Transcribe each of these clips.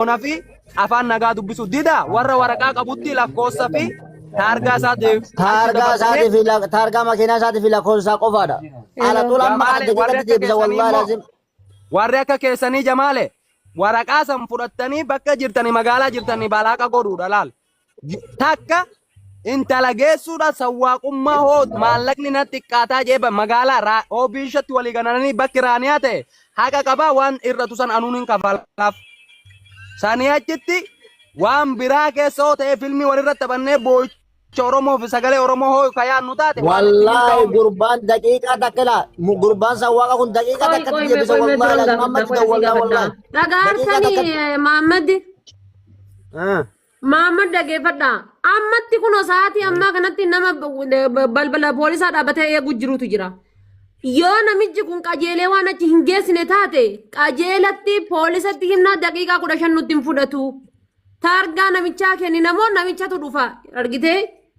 Oromoona fi afaan nagaa dubbisu dida warra waraqaa qabutti lakkoofsa fi taargaa isaa deebi. Taargaa isaatii fi lak- taargaa makiinaa isaatii fi lakkoofsa isaa qofaadha. Ala tuula amma Jamaale, adda warri jedhatti akka deebisa keessanii wallaahi immoo- lazim. Warri akka keessanii jamaale waraqaa san fudhattanii bakka jirtanii magaalaa jirtanii balaaqa godhuudha laal. Takka intala geessuudha sawwaaqummaa hoo maallaqni na xiqqaataa jee ba- magaalaa raa- hoo biishatti walii ganananii bakki raaniyaa ta'e haqa qabaa waan irratu san anuun hin kafalaaf. Sanii achitti waan biraa keessa hoo ta'ee filmii walirratti taphannee boo'icha Oromoo fi sagalee Oromoo hoo ka yaadnu taate waan itti wallaahi milkaa'u miti. gurbaan daqiiqaa takka laa mu- gurbaan san waaqa kun daqiiqaa Qoy takkatti qoy mee deebisa qoy mee wallaahi biroon laa gaafadha Muhammad qoy da sii wallaahi gaafadha. wallaahi daqiiqaa Dhagaartani takkatti Maammad Ah. Maammad dhageeffadha. Ammatti kun sa'aatii ammaa kanatti nama balbala poolisaa dhaabbatee eegu jirutu jira. Yoo namichi kun qajeelee waan achi hin geessine taate qajeelatti poolisatti himnaa daqiiqaa kudha shan nutti hin fudhatu. Taargaa namichaa kenninamoo namichatu dhufa argitee?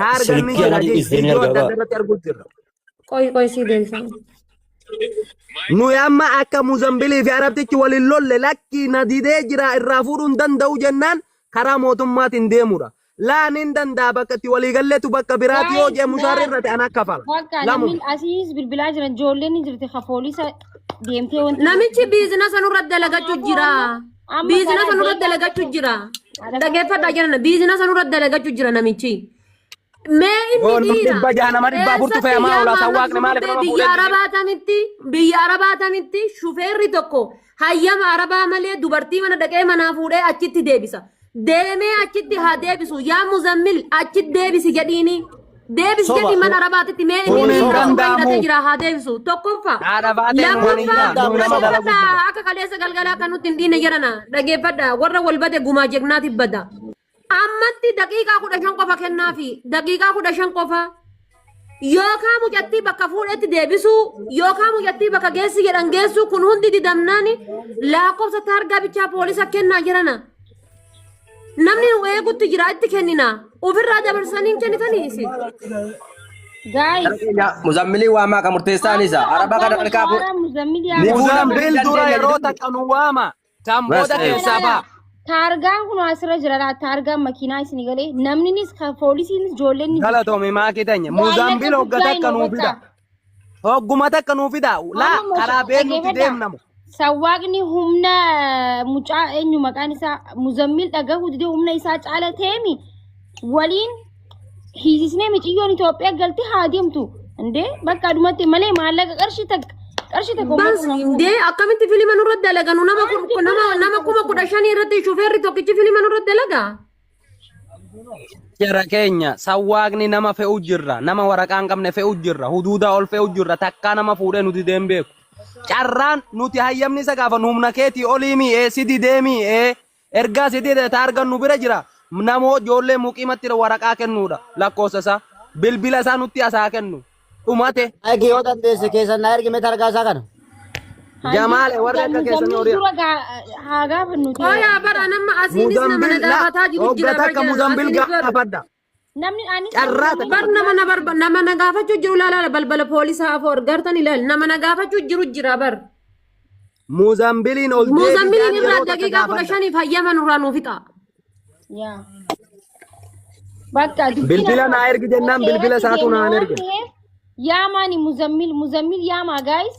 Haa argannu hin Silkii jira anatu jees is deemee viidiyoo argaa adda addaa baa. irratti arguu jirra. Qoy qoy sii deebifame. Nuyi amma akka Muzambilii fi Arabtichi waliin lolle lakkii na didee jira irraa fuudhuu hin danda'u jennaan karaa mootummaatiin deemudha. Laa nin danda'a bakka itti walii galletu bakka biraati yoo jee mushaarri irratti ana kafala. Bakka Lamu. namni asiis bilbilaa jiran ijoolleen ni jirti ka poolisa deemtee wanti Namichi biizinasa nurra dalagachuu jira. Amma Biizinasa garaa nurra deemaa dalagachu jechuun- jira. Dhaggeeffadhaa jenna biizinasa nurra dalagachu jira namichi. Mee inni Yoo nu dhiira. dhibba jaha nama dhibbaa furtu fe'amaa Eessatti oolaa, isaan waaqni maaliif nama biyya fuudhee arabaa tamitti biyya arabaa tamitti shufeerri tokko hayyama arabaa malee dubartii mana dhaqee manaa fuudhee achitti deebisa. Deemee achitti haa deebisu yaa muzammil achitti deebisi jedhiini. Deebis Soba. jedhi mana arabaatitti mee Kun inni hin irraa soba danda'amu. hidhatee jira haa deebisu. Tokkoffaa. Haadha baatee Kun hin Lammaffaa danda'amu. Nama dalagu dhaggeeffadhaa akka kaleessa galgalaa kan nutti hin dhiine jedhana dhaggeeffadhaa warra wal bade gumaa jegnaatiif bada. Ammatti daqiiqaa kudha shan qofa kennaafi daqiiqaa kudha shan qofa yookaan mucattii bakka fuudhetti deebisuu yookaan mucattii bakka geessi jedhan geessuu kun hundi didamnaani lakkoofsa taargaa bichaa poolisa kennaa jirana. Namni nu eegutti jira itti kennina. Ofirraa dabarsanii hin kennitanii isin. Gaayis. Gara keenya Muzammilii waamaa kan murteessaan isa. Araba kana malkaa fuudha. Muzammil dura yeroo takka nu waama. Kan booda keessaa ba'a. Taargaan kun asirra jira laa taargaan makiinaa isin galee namninis kan poolisiinis ijoolleen Galatoome maakii tanya. Muzammil hogga takka nu fida. Hogguma takka nuu fidaa. Laa Amma mos- karaa beennutti dhaggeeffadhaa. deemna mo. Sawwaaqni humna eh, mucaa eenyu maqaan isaa muzammil dhagahuu didee humna isaa caala ta'eemi waliin hiisisnee miciyyoon Itoophiyaa galti haa deemtu. Indee bakka adumatti malee maallaqa qarshii takka qarshii takka Bas uummata hin dee akkamitti filima nurratti dalaganu nama kun- nama nama kuma kudha shanii irratti shufeerri tokkichi filima nurratti dalaga. Jara keenya sawwaaqni nama fe'u jirra. Nama waraqaa hin qabne fe'u jirra. Huduudaa ol fe'u jirra. Takkaa nama fuudhee nuti deem beeku. Carraan nuti hayyamni isa gaafannu humna keetii olii mii ee sidi deemii ee ergaa sidi ta argannu bira jira. Namoo ijoollee muqiimatti waraqaa kennuudha lakkoofsa isaa. Bilbila isaa nutti asaa kennu. dhumate Aiki yoo dandeesse keessan na ergi mee targaa isaa kana. jamaale warri akka keessanii horii Dura gaa- haa gaafannu ta'e. Hooyaa bara nama asiinis nama na mudambil daabataa jiru hogga jira takka mudambil gaafadha Namni anis carraa takka Bar nama na barba nama na gaafachuu jiru laala balbala poolisaa afoo argartan ilaali nama na gaafachuu jiru jira bar. Muuzambiliin ol deebiidhaan Muuzambiliin irraa yeroo takka daqiiqaa kudha gaafadha. shaniif hayyama nurraa nuuf fixa. Yaa. Bakka dubbiin Bilbila akkuma- naa ergi jennaan bakka bilbila irratti isaatu deemna naan waan erge. ta'eef, Yaamaani muzammil muzammil yaamaa gaayis.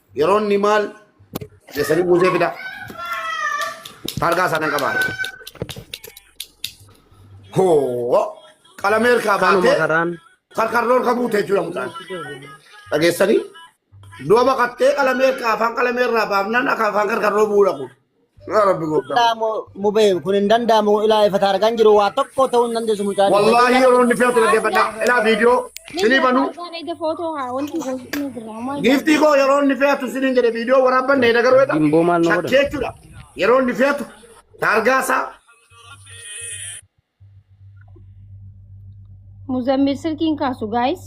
Yeroo inni maal keessanii buusee fidaa. Targaa isaa kan qabaan. Hoo qalamee harkaa Kanuma baatee karaan karkarroo harka buute jechuudha mucaan. Dhageessanii? Du'a baqattee qalamee harkaa afaan qalamee irraa baafnaan akka afaan karkarroo bu'uudha kun. Yaa Rabbi gooftaa. danda'amu mubee kun hin danda'amu ilaa ifa taargaan jiru waa tokko ta'uu hin dandeessu mucaan. Wallaahi yeroo inni fe'atu dhaggeeffadha. Ilaa viidiyoo sinii banuu. Eega footoo haa wanti goofni diraamaa. Giiftii koo yeroo inni fe'atu siniin jedhe viidiyoo waraabbanne hin agaruu jedha. Gimboo maal nu godhan? Shakkee jechuudha. Yeroo inni fe'atu taargaa isaa Muzammil silkiin kaasu gaayis.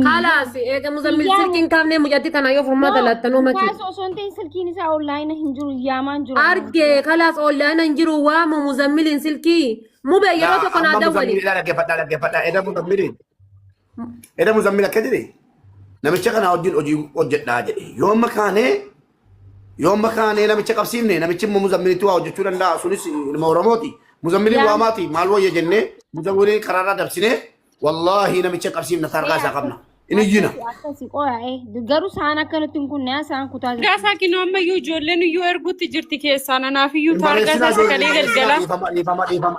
Kalaas eega muzammil silkiin kaafnee mucatti tana yoo furmaata laattanuu mati. Kaasu osoo hin ta'in silkiin isaa onlaayina hin jiru yaamaan jiru. Argee kalaas onlaayina hin jiru waamu muzammiliin silkii. Mube yeroo tokko naa dawwali. Dhaggeeffadhaa dhaggeeffadhaa eeda muzammiliin. Eda muzammil akka jedhe namicha kanaa wajjin hojii hojjedhaa jedhe. Yoo amma kaanee yoo amma kaanee namicha qabsiifne namichi immoo muzammilitti waa hojjechuu danda'a sunis ilma Oromooti. Muzammiliin Yaa- waamaati maal wayya jennee muzammiliin karaarraa dabsinee wallaahi namicha qabsiifna taargaa isaa qabna. Inni iyyina. Akkasi qoya eh garuu saan akka nutti hin kunne saan kutaa jirti. Gaasaa kinoo ammayyuu ijoolleen iyyuu erguutti jirti keessaan anaaf iyyuu taargaa isaa sagalee galgala. Dhiifama dhiifama dhiifama.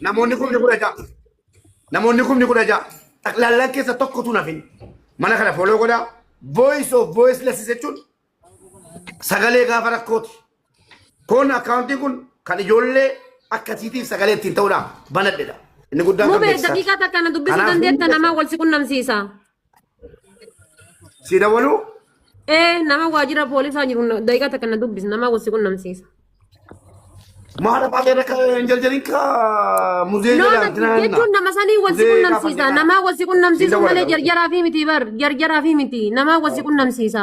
Namoonni kumni kudha ja'a. Namoonni kumni kudha ja'a. Xaqlaallaan keessa tokkotu nafin. Mana kana foloo godhaa. Voice of voice lessi jechuun sagalee gaafa rakkooti. Kun akkaawuntiin kun kan ijoollee akkasiitiif sagalee ittiin ta'uudhaan banadhedha. Inni guddaan kan Mubee beeksisaa. daqiiqaa takka na dubbisuu Kanaaf dandeetta hunda- nama wal si qunnamsiisa. Si dawaluu? Ee nama waajjira poolisaa jiru na- daqiiqaa takka na dubbis nama wasi qunnamsiisa. Maadha baatee rakka hin jarjarin ka muzee No, jedhaan na- jechuun nama sanii wasi Muzee qunnamsiisa. gaafa Nama wasi Hin qunnamsiisu dawwala malee dawwala. jarjaraa fi miti bar. Jarjaraa fi miti. Nama wasi qunnamsiisa.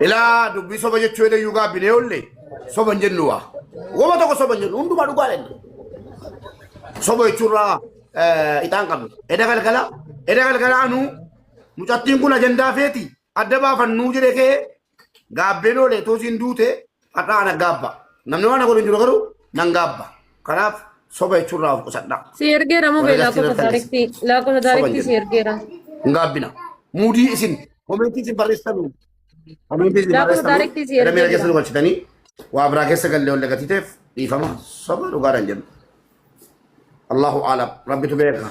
Ilaa dubbii soba jechuu jedhee yuu gaabbinee oolle soba hin jennu waa. Wama tokko soba hin jennu hundumaa dhugaa jenna. Soba jechuurraa ixaan qabnu. Eda galgala eda galgala anuu mucattiin kun ajandaa feeti adda baafannuu jedhee kee Gaabbeen oolee toos hin duute har'aa ana gaabba. Namni waan godhu hin jiru garuu nan gaabba. Kanaaf soba jechuun irraa of qusadhaa. Si ergeera moo beelaa Warra lakkoofsa gaazexeessitoota taariktii lakkoofsa Soba taariktii si jedhu. ergeera. Hin gaabbina. Muudii isin komentii isin barreessanu. Komentii isin Lakkoofsa barreessanu. taariktii si Gara miira ergeera. keessa nu galchitanii waa biraa keessa gallee ol dagatiteef dhiifama. Soba dhugaadhaan jennu. Allahu aalam. Rabbitu beeka.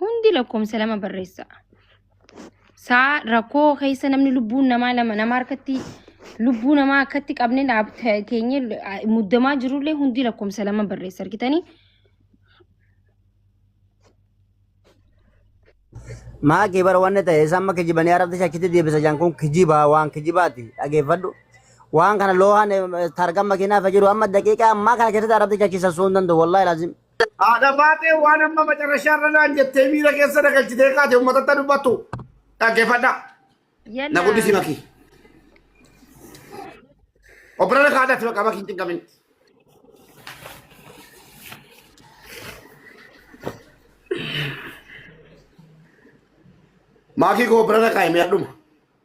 Hundi lakkoomsa lama barreessa. Saa rakkoo keessa namni lubbuun namaa lama nama harkatti lubbuu namaa akkatti qabne dhaabta keenya muddamaa jirullee hundi lakkoomsa lama barreessa argitanii. Maa kee bara wanni ta'e isaan ma kijibanii arabta shakkitti deebisa jaan kun kijibaa waan kijibaati dhageeffadhu. Waan kana loohaan targan makiinaa fajiru amma daqiiqaa ammaa kana keessatti arabta shakkisa sun danda'u wallaahi laazim. Haadha baatee waan amma macarrashaa irra naan jettee miira keessa na galchitee kaate uummatatti dubbattu dhaggeeffadha. Na guddisi bakki. Obbola na kaadhatti bakka bakki hin cinqamin. Maakii koo obbola na kaa'e mi'a dhuma.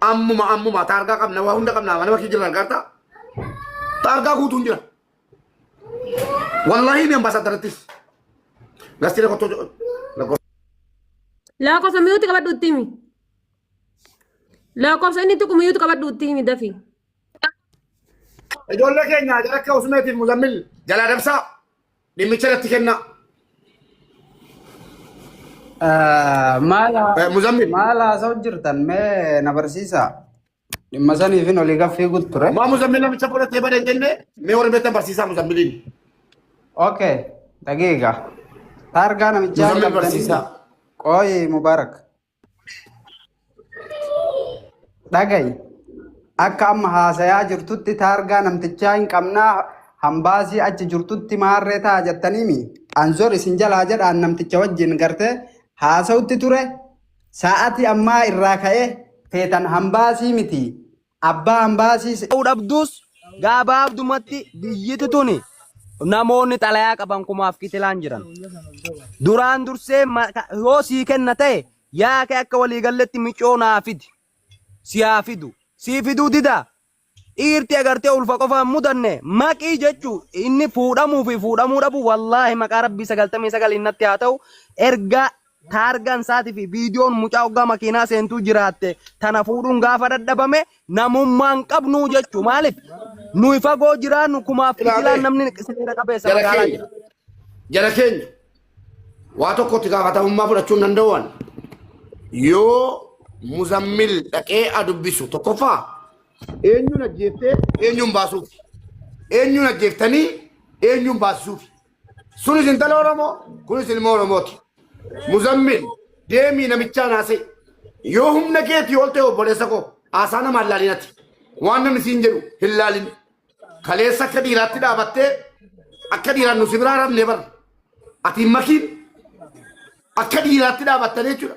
Ammuma ammuma taargaa qabna waa hunda qabna mana bakki jiran garta. Taargaa guutuun jira. Wallahi ni ambaasaadarattis. Gastilee kottoo lakkoofsa. Lakkoofsa miyuuti qabadhu itti himi. Lakkoofsa inni tuqu miyuuti qabadhu itti himi dafi. Ijoollee keenya jara akka Usmeetiif Muzammil jalaa dabsaa. Dhimmicha irratti kennaa. Maal Eh, Muzammil. maal haasa'u jirtan mee na barsiisaa. Dhimma saniifin olii gaffii guutu ture. Maa Muzammil namicha fudhatee badee jennee mee warri beektan barsiisaa Muzammiliin. Okay, dhageega. Taargaa namichaa Muzammil qabdanii- barsiisaa. Qooyi Mubaarak. Dhagayi. Akka amma haasayaa jirtutti taargaa namtichaa hin qabnaa hambaasii achi jirtutti maarree ta'a jettaniimi. Anzor isin jalaa jedhaan namticha wajjin gartee haasawutti ture. Sa'aatii ammaa irraa ka'ee feetan hambaasii miti. Abbaa Ambaasii se. ta'uu dhabdus gabaabdumatti biyyiti tuni namoonni xalayaa qaban kumaaf kitilaan jiran. Duraan dursee yoo sii kenna ta'e yaa kee akka walii galletti micoo naa fidi. Si haa fidu. Sii fiduu dida. Dhiirti agartee ulfa qofa hin mudanne maqii jechuu inni fuudhamuu fi fuudhamuu dhabu wallaahi maqaa rabbii sagaltamii sagaliin natti haa ta'u ergaa Taargaan isaati fi viidiyoon mucaa oggaa makiinaa seentuu jiraatte tana fuudhuun gaafa dhadhabame namummaa hin qabnu jechuu maaliif nuyi fagoo jiraannu kumaaf Ilaa kitilaan bee. namni seera qabeessa jara magaalaa keenya jira. jara keenya waa tokkotti gaafatamummaa fudhachuu hin danda'an yoo muzammil dhaqee a dubbisu tokkoffaa eenyuun ajjeeftee eenyuun baasuuf eenyuun ajjeeftanii eenyuun baasisuuf Sunis intala Oromoo, kunis ilma Oromooti. Muzammil, deemii namichaa naasee. Yoo humna keetii ol ta'e obboleessa koo haasaa nama hin laalinati. Waan namni siin jedhu hin laalin. Kaleessa akka dhiiraatti dhaabattee akka dhiiraan nu si biraa rafnee barra. Ati hin makiin akka dhiiraatti dhaabattanii jechuudha.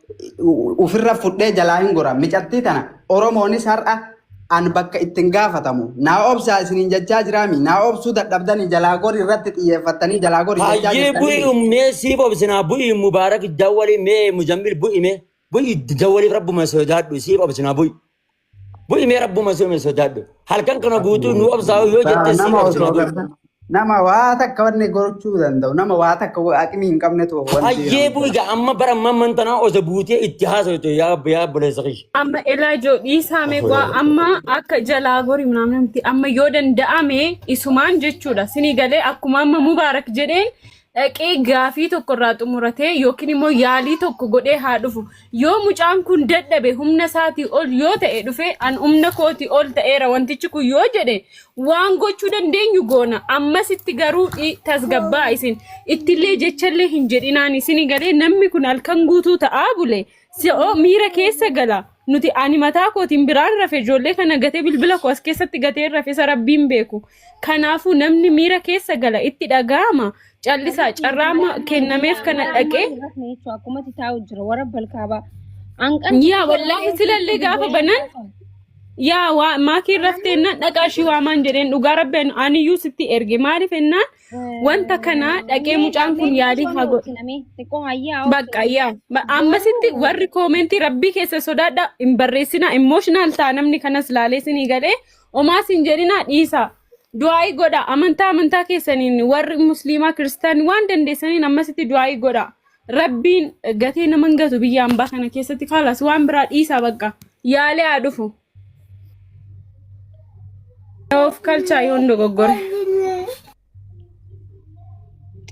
ufirra fudhee jalaa hin gora micattii tana oromoonis har'a an bakka ittiin gaafatamu naa obsaa isiniin jechaa jiraami naa obsuu dadhabdanii jalaa gori irratti xiyyeeffattanii jalaa gori jechaa Hayyee jirtanii bu'ii umnee siif obsinaa bu'ii mubaarak jawwali mee muzammil bu'ime bu'ii jawwaliif rabbuma sodaadhu siif obsinaa bu'ii. Bu'i mee rabbuma soome sodaadhu. Halkan kana guutuu nu obsaa'u yoo Taa jettee siin nama obsina osoo garta guutuu. nama waa takka wanni gochuu danda'u nama waa takka wa- aqimii hin qabnetu of wanti Hayyee jedhamu bu'i gaa amma bara amma amman tanaa osa buutee itti haasawtu yaa abba yaa obboleessa kiyya. amma ilaa ijoo dhiisaa mee Afuura waa irra. amma akka jalaa gorii naamni miti amma yoo danda'ame isumaan jechuudha sinii galee akkuma amma mubaarak jedheen dhaqee gaafii tokko irraa xumuratee yookiin immoo yaalii tokko godhee haa dhufu. Yoo mucaan kun dadhabe humna isaatii ol yoo ta'e dhufe an humna kootii ol ta'eera wantichi kun yoo jedhe waan gochuu dandeenyu goona. Ammasitti garuu i- tasgabbaa isin ittillee jechallee hin jedhinaan isin galee namni kun halkan guutuu ta'aa bule. Si'oo miira keessa gala. Nuti ani mataa kootiin biraan rafe ijoollee kana gatee bilbila koo as keessatti gatee rafe isa rabbiin beeku. Kanaafuu namni miira keessa gala itti dhaga'ama. Callisaa carraa amma kennameef kana dhaqee Akkumatti taa'u jira warra balkaabaa. Hanqan yaa wallaahi silallee gaafa banan yaa waa maakii raftee ennaan dhaqaa ishii waamaan jedheen dhugaa rabbi ani- aniyyuu sitti erge maaliif ennaan Wanta kana dhaqee mucaan kun yaalii haa godhu. Bakka yaa ba- ammasitti warri koomentii rabbii keessa sodaadha hin barreessina imooshinaal ta'a namni kanas laalee sinii galee omaas hin jedhina dhiisa. Du'aayii godha amantaa amantaa keessaniin warri musliimaa kiristaanii waan dandeessaniin ammasitti du'aayii godha. Rabbiin gatee nama hin gatu biyya ambaa kana keessatti kaalas waan biraa dhiisa bakka yaalee haa dhufu. Of kalchaa yoon dogoggore.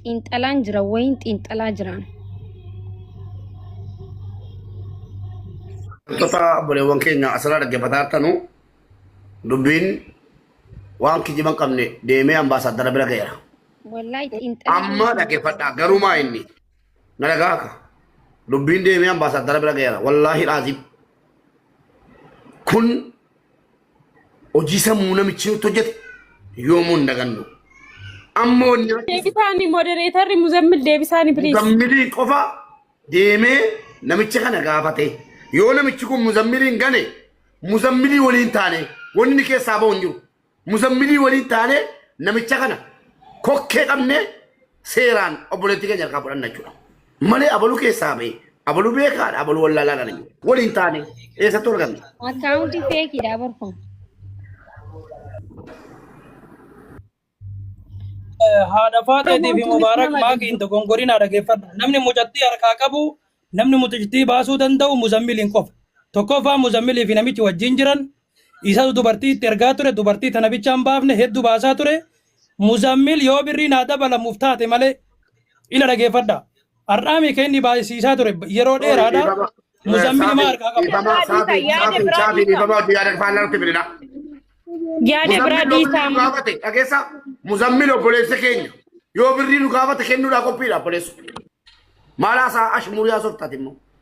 Xiinxalaan jira wayiin xiinxalaa jiraan. Wantoota obboleewwan keenya asirraa dhaggeeffataa jirtanu dubbiin waan kijiba hin qabne deemee ambaasaaddara bira ga'eera. Wallaahi xiinxalaa Amma dhaggeeffadhaa garuu maa inni na dhagaaka dubbiin deemee ambaasaaddara bira ga'eera wallaahi dhaaziin. Kun hojii sammuu namichi nutti hojjete yoomuu hin dagannu. Amma wanni namichi Deebisaanii modereetarri Muzammil deebisaanii please. muzammiliin qofa deemee namicha kana gaafate. Yoo namichi kun muzammiliin gane muzammilii waliin taane wanni inni keessaa bahu hin jiru. Muzammilii waliin taanee namicha kana kokkee qabnee seeraan obboleettii keenya harkaa fudhanna jechuudha. Malee abaluu keessaa ba'e abaluu beekaadha abaluu wallaalaa kana jiru. Waliin taanee eessatti arganna? Akkaawuntii feekiidha bar kun. haadha faaxeetii fi mubaarak maakiin dogongorinaa dhageeffadha. Namni mucattii harkaa qabu, namni mucattii baasuu danda'u muzammiliin qofa. Tokkoffaa muzammilii fi namichi wajjin jiran Isatu dubartii itti ergaa ture dubartii tana bichaan baafne heddu baasaa ture muzammil yoo birrii naa dabalamuuf taate malee ila dhageeffadha har'aamii ka inni baayisiisaa ture yeroo Sorry, dheeraadha dhiifama. muzammil imaa harkaa qaba Dhiifama Yaada saafii isaa, yaada saafii biraa saafii dhiisaa. dhiifama hojii yaada faan lalutti fidina. Yaada biraa Muzammil yoo birrii nu dhiisaa. gaafate dhageessa muzammil obboleessa keenya yoo birrii nu gaafate kennuudhaa qophiidha obboleessu. Maalaa isaa ashmuuriyaa softaati immoo.